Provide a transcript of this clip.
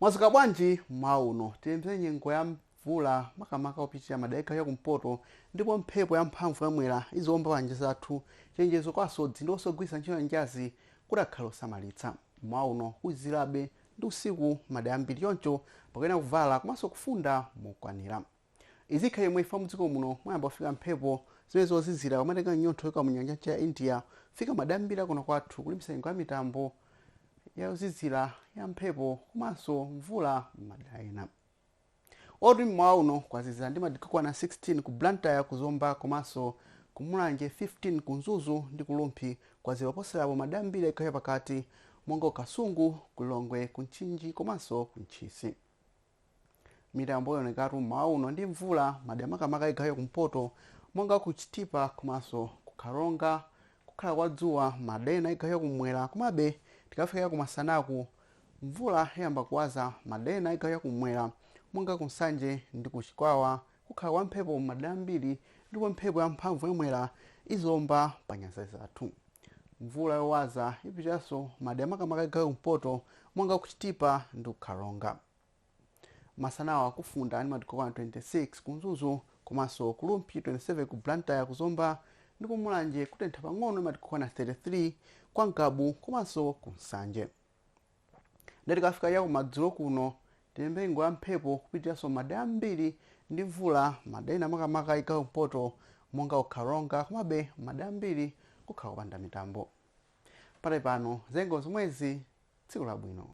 mwadzuka bwanji mmawa uno tiyembekezere nyengo ya mvula makamaka yopitirira madera a chigawo cha kumpoto ndipo mphepo ya mphamvu yamwera iziwomba panyanja zathu chenjezo kwa asodzi ndi onse ogwiritsa ntchito nyanjazi kuti akhale osamalitsa mmawa uno kuzizirabe ndi usiku madera ambiri choncho pakuyenera kuvala komanso kufunda mokwanira Izi zikhala chomwechi chifukwa mudziko muno mwayamba kufika mphepo zimene zozizira kumatenga chinyontho kuchoka munyanja yamchere ya India kufika madera ambiri kuno kwathu kulimbikitsa nyengo ya mitambo ya yozizira ya mphepo komanso mvula m'madera ena. Otu mmawa uno kwazizira ndi madigiri okwana 16 ku Blantyre ku Zomba komanso ku Mulanje 15 ku Mzuzu ndi ku Rumphi kwazizira moposerapo madera ambiri chigawo chapakati monga ku Kasungu, ku Lilongwe, ku Mchinji komanso ku Ntchisi. Mitambo ionekatu mmawa uno ndi mvula madera makamaka chigawo chakumpoto monga ku Chitipa komanso ku Karonga. Kukhala kwa dzuwa madera ena chigawo chakummwera komabe tikafikira kumasanaku mvula iyamba kuwaza madera ena chigawo chakummwera monga ku Nsanje ndi ku Chikwawa. Kukhala kwa mphepo m'madera ambiri ndipo mphepo yamphamvu ya Mwera iziomba pa nyanja zathu. Mvula yowaza ipitiriranso madera makamaka chigawo cha kumpoto monga ku Chitipa ndi ku Karonga. Masanawa kufunda ndi madigiri okwana 26 ku Mzuzu komanso ku Rumphi, 27 ku Blantyre, ku Zomba ndi ku Mulanje kutentha pang'ono ndi madigiri okwana 33 kwa Ngabu komanso ku Nsanje. Ndiye tikafika chakumadzulo kuno tiyembekezere nyengo ya mphepo kupitiriranso madera ambiri ndi mvula madera ena makamaka chigawo chakumpoto monga ku Karonga komabe madera ambiri kukhala kupanda mitambo. Pakali pano zanyengo zomwezi tsiku labwino.